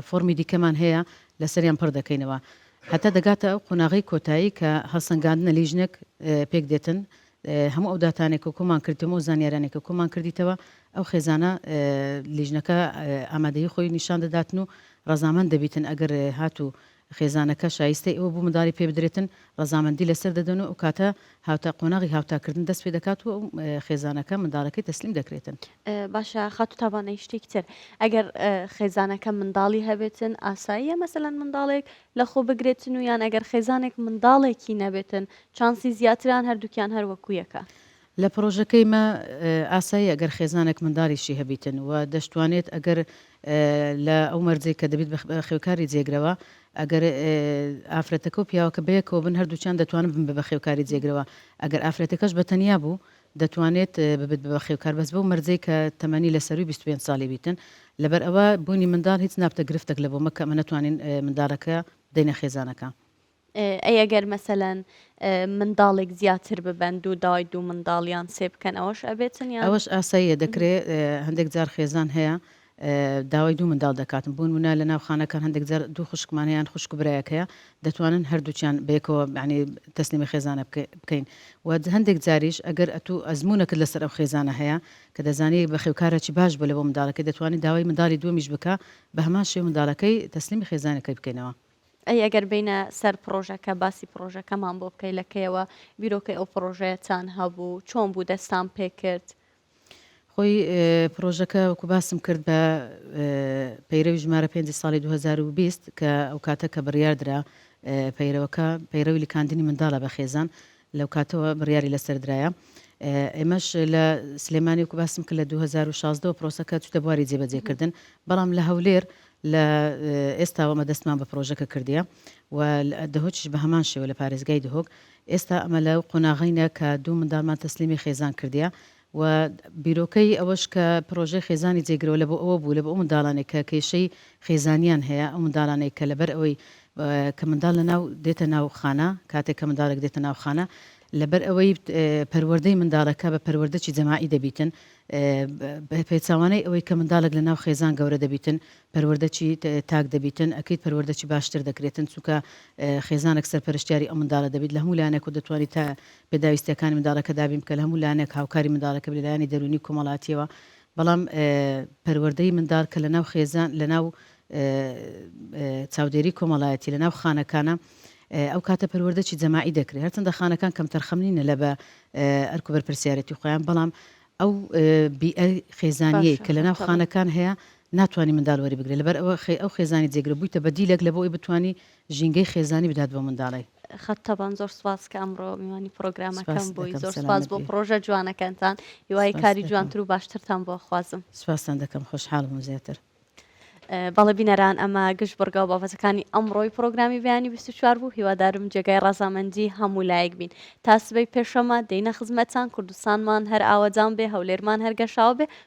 فۆرمی دیکەمان هەیە لەسەریان پڕ دەکەینەوە هەتا دەگاتە ئەو قۆناغی کۆتایی کە هەڵسەنگاندنە لیژنێک پێک دێتن هەموو ئەو داتانەی کە کۆمان کردیتەوە و ئەو زانیاریانەی کە کۆمان کردیتەوە ئەو خێزانە لیژنەکە ئامادەیی خۆی نیشان دەداتن و ڕەزامەند دەبیتن ئەگەر هاتوو خێزانەکە شایستەی ئەوە بوو منداڵی پێ بدرێتن ڕەزامەندی لەسەر دەدەن و ئەو کاتە هاوتا قۆناغی هاوتاکردن دەست پێ دەکات و ئەو خێزانەکە منداڵەکەی تەسلیم دەکرێتن. باشە خاتوو تابانەی شتێکی تر ئەگەر خێزانەکە منداڵی هەبێتن ئاساییە مەسەلەن منداڵێک لەخۆبگرێتن و یان ئەگەر خێزانێک منداڵێکی نەبێتن چانسی زیاترە یان هەردووکیان هەر وەکو یەکە؟ لە پرۆژەکەی مە ئاساییە ئەگەر خێزانێک منداڵیشی هەبیتن و دەشتوانێت ئەگەر لە ئەو مەرجەی کە دەبیت بە بەخێوکاری جێگرەوە ئەگەر ئافرەتەکە و پیاوەکە بەیەکەوە بن هەردووکیان دەتوانن بن بە بەخێوکاری جێگرەوە ئەگەر ئافرەتەکەش بە تەنیا بوو دەتوانێت ببێت بە بەخێوکار بەس بەو مەرجەی کە تەمەنی لە سەرووی بیست و پێنج ساڵی بیتن لەبەر ئەوە بوونی منداڵ هیچ نابتە گرفتەک لە بۆمە کە ئەمە نەتوانین مندالەکە بدەینە خێزانەکە. ئەی ئەگەر مەسەلەن منداڵێک زیاتر ببەن دوو دای دوو منداڵ یان سێ بکەن ئەوەش ئەبێتن یان؟ ئەوەش ئاساییە دەکرێ هەندێک جار خێزان هەیە داوای دوو منداڵ دەکات، بونمونە لە ناو خانەکان هەندێک جار دوو خوشکمان هەیە یان خوشک و برایەک هەیە دەتوانن هەردووکیان بەیەکەوە یانی تەسلیمی خێزانە بکەین و هەندێک جاریش ئەگەر ئەتوو ئەزمونەکت لەسەر ئەو خێزانە هەیە کە دەزانی بەخێوکارەکی باش بووە لەبۆ منداڵەکەی دەتوانی داوای منداڵی دووەمیش بکە بەهەمان شێوە منداڵەکەی تەسلیمی خێزانەکەی بکەینەوە. ئەی ئەگەر بێینە سەر پڕۆژەکە باسی پڕۆژەکەمان بۆ بکەی لە کەیەوە بیرۆکەی ئەو پڕۆژەیەتان هەبوو چۆن بوو دەستان پێکرد خۆی پڕۆژەکە وەکو باسم کرد بە پەیرەوی ژمارە پێنجی ساڵی 2020 کە ئەو کاتە کە بڕیار درا پەیرەوەکە پەیرەوی لکاندنی منداڵە بە خێزان لەو کاتەوە بڕیاری لەسەر درایە ئێمەش لە سلێمانی وکو باسم کە لە 2016 پرۆسەکە چوتە بواری جێبەجێکردن بەڵام لە هەولێر لە ئێستاوەمە دەستمان بە پرۆژەکە کردیە و دهۆکیش بە هەمان شێوە لە پارێزگای دهۆک ئێستا ئەمە لەو قۆناغەینە کە دوو منداڵمان تەسلیمی خێزان کردیە و بیرۆکەی ئەوەش کە پرۆژەی خێزانی جێگرەوە لە بۆ ئەوە بوو لە بۆ ئەو منداڵانەی کە کێشەی خێزانیان هەیە ئەو منداڵانەی کە لەبەر ئەوەی کە منداڵ لە ناو دێتە ناو خانە کاتێک کە منداڵێک دێتە ناو خانە لەبەر ئەوەی پەروەردەی منداڵەکە بە پەروەردەچی جەماعی دەبیتن بە پێچوانەی ئەوەی کە منداڵێک لە ناو خێزان گەورە دەبیتن پەروەردە چی تاک دەبیتن ئەکریت پەروەردە چی باشتر دەکرێتن چونکە خێزانەک سەرپەرشتیاری ئەو منداڵە دەبیت لە هەموو لایەنەک و دەتوانی تا پێداویستیەکانی منداڵەکە دابین بکە لە هەموو لایەنەک هاوکاری منداڵەکە بی لە لایەنی دەرونی و کۆمەڵاتیەوە بەڵام پەروەردەی منداڵ کە لە ناو خێزان لە ناو چاودێری کۆمەڵایەتی لە ناو خانەکانە ئەو کاتە پەروەردە چی جەماعی دەکرێت هەرچەندە خانەکان کەم تەرخەم نینە لە بە ئەرک و بەرپرسیارەتی خۆیان بەڵام ئەو بیئە خێزانیەی کە لە ناو خانەکان هەیە ناتوانی مندال وەری بگرێ لەبەر ئەوە خەی ئەو خێزانی جێگرە بویتە بە دیلەک لەبۆ ئەوی بتوانی ژینگەی خێزانی بدات بەو مندالەی. خەت تەبان زۆر سوپاس کە ئەمڕۆ میوانی پڕۆگرامەکەم بووی زۆر سوپاس بۆ پڕۆژە جوانەکانتان هیوای کاری جوانتر و باشترتان بۆ ئەخوازم. سوپاستان دەکەم خۆشحاڵ بووم زیاتر. بەڵێ بینەران ئەمە گشت بڕگا و بابەتەکانی ئەمڕۆی پڕۆگرامی بەیانی بیست و چوار بوو هیوادارم جێگای ڕەزامەندی هەموو لایەک بین تا سبەی پێشەمە دێینە خزمەتتان کوردستانمان هەر ئاوەدان بێ هەولێرمان هەر گەشاوە بێ